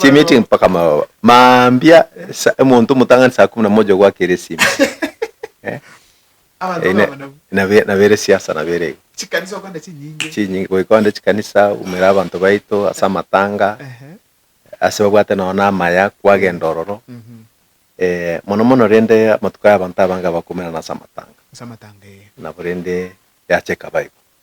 chimeeting mpaka amababa mambia sa- omonto omotang'ani saa kumi na moja ogwakera esime Eh, eh, na- nabe- nabere siasa nabere igo chikanisa okanda chinyinge chinyinge goika onde chikanisa umera abanto baito ase amatanga Ehe. ase babwate nonye na amaya kwagenda ororo Mhm. eh, mono mono rende amatuko aya abanto abange bakomerana ase amatanga ase amatanga eye nabo rende yacha ekaba igo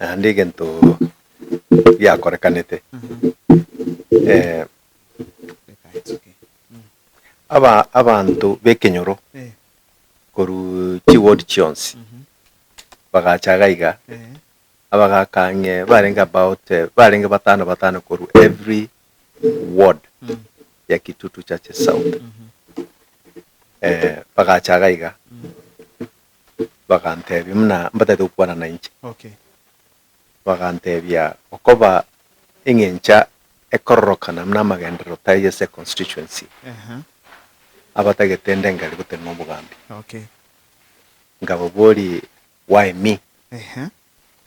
naende egento giakorekanete aba- abanto b'ekenyoro korwa chiward chionsi bagacha iga iga, abagaka ang'e barenge about barenge batano batano korwa every ward ya kitutu churches south bagacha iga iga. Bagantebia, Buna mbatagete gokwana nainche. Bagantebia, Okoba eng'encha ekororokana buna amagenderero tari ase econstituency, abatagete inde ngare gotera nobogambi. Nkababoria, Why me?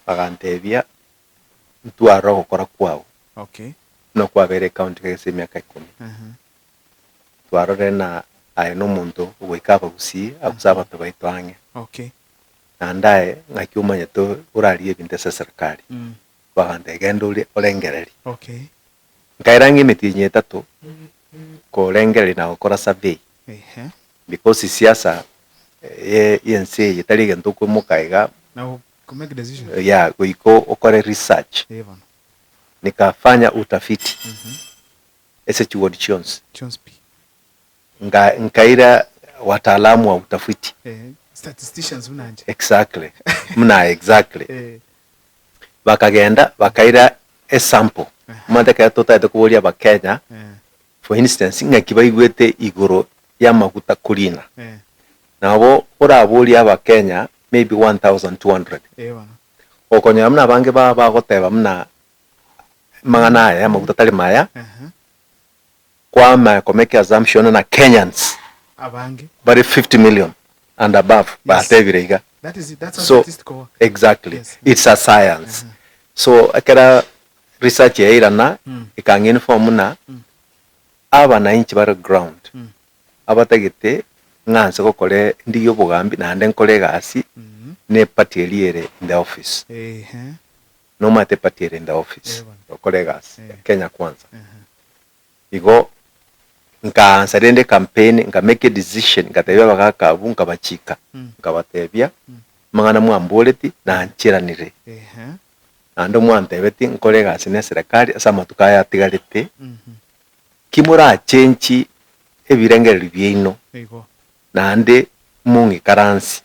Bagantebia, Ntwarora ogokora kwao, buna kwabeire ecounty kegese emiaka ikomi. twarorire ng'a aye nomonto ogoika abagusii gose abanto baito ang'e. Okay. Naende aye ng'aki omanyete orarigie ebinto ase eserikari. Bagantebia genda ore orengererie. Okay. Nkaira ng'a emetienyi etato korengereria na gokora survey. Ehe. Because siasa y'ense eye tari egento okoimoka iga. Na go make decision. Yeah, goika okore research. Eeh bono. Nikafanya utafiti. ase chiwodi chionsi. Chionsi pi. Nga nkaira wataalamu wa utafiti. Eh, statisticians buna inche. Exactly. Buna aye, exactly. Eh. Bakagenda bakaira esample. Aha. Omanyete ekero totagete koboria Abakenya, Eh. for instance, ng'aki baigwete igoro y'amaguta kurina. Eh. Nabo oraborie Abakenya maybe 1,200. Eeh bono. Okonyora buna abange babo bagoteba buna. amang'ana aya amaguta tari maya kwama komeki assumption na Kenyans Abange. bari 50 million and above batebire iga That is, that's how So- statistical work. exactly Yes. it's a science so ekera research yairana Mm. ikanga inform na Mm. abananchi bare ground Mm. abatagete ng'anse gokore ndigie obogambi naende nkore egasi Mhm. ne party eria ere in the office Ehe. Nomanyete party ere inde office gokora egasi ya Kenya Kwanza. Igo nkaansa rende campaign nka make a decision ngatebia abagaka abwo nkabachiika nkabatebia amang'ana mwamboreti nanchiranire naende mwantebeti nkore egasi ne eserekari ase amatuko aya atigarete ki morachenchi ebirengererio biaino naende mong'ikaransie,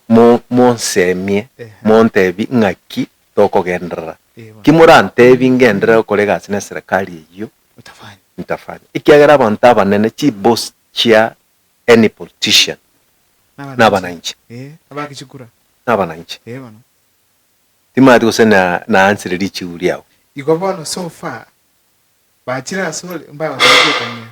mo, monsemie, montebi ng'aki tokogenderera. Ki morantebi ngenderere gokorega ase neserekari eyio? Nitafanya. Ekiagera abanto abanene, chiboss chia any politician, nabananche. Nabananche. Timanyeti gose na, naansire richigu riabo. Igo bono so far. Bachire asore, mbagoteebia Betania.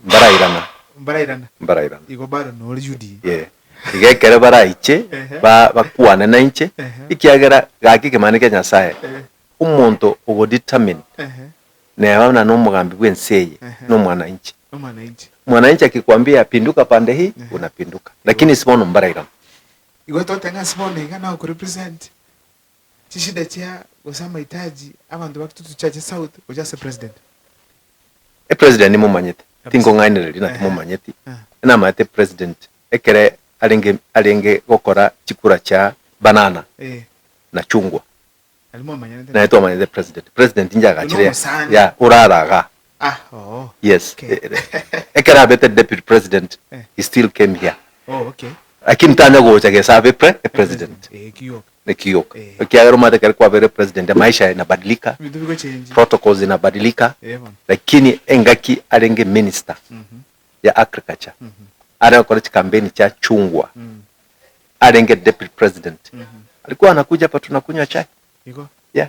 Mbarairana. Mbarairana. Mbarairana. Igo bare nore Yudea. Yee. Iga ekero baraiche, bakwane nainche, ekiagera gaki ekemanero kia Nyasae, omonto obo determined, neba na nomogambi bw'ense eye, nomwananchi. Mwananchi akikuambia pinduka pande hii, unapinduka. Lakini ase bono mbarairana. Igo toteba ng'a ase bono iga nagokurepresent. chishida chia gose amahitaji abanto bakitutu chiache south gocha ase president. E president nimomanyete, tinkong'ainereria na timomanyeti, namanyete president ekere arenge arenge gokora chikura chia banana na chungwa, Nari mwamanyanete naye twamanyete president, president inche agachire, ya orare agaa. Yes ekero abete deputy president he still came here lakini tanya gocha gesa abe president ekioka ekiagera omanyete ekero kwabeire president maisha ina badilika protocols ina badilika lakini engaki arenge minister ya agriculture are gokora chikampeni chia chungwa arenge deputy president alikuwa anakuja hapa tunakunywa chai yeah.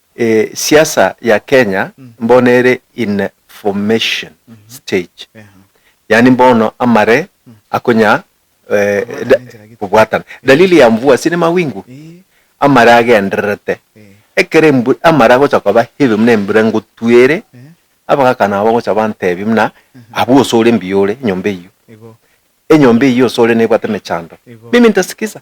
E siasa ya Kenya mbono ere in a formation stage, yaani mbono amare akonya kobwatana. Dalili ya mvua si ni mawingu, amare agendererete. Ekero amare agocha koba heavy buna embura ngotwa ere, abagaka nabo bagocha bantebia buna abwo ose ore mbuya ore enyomba eyio. Enyomba eyio ose ore nebwate emechando. Mimi nitasikiza.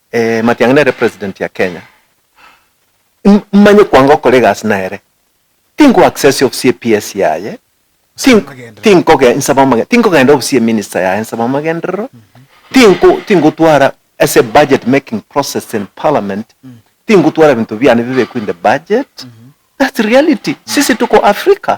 Eh matiang'i nere president ya Kenya mmanye kwanga okora egasi nere tinko access ofisi ye PS yaye tinkoge nsaba amage tinkogenda ofisi ye minister yaye nsaba amagenderero tinko tinkotwara ase budget making process in parliament tinkotwara ebinto biane bibekwe in the budget that's reality sisi tuko Africa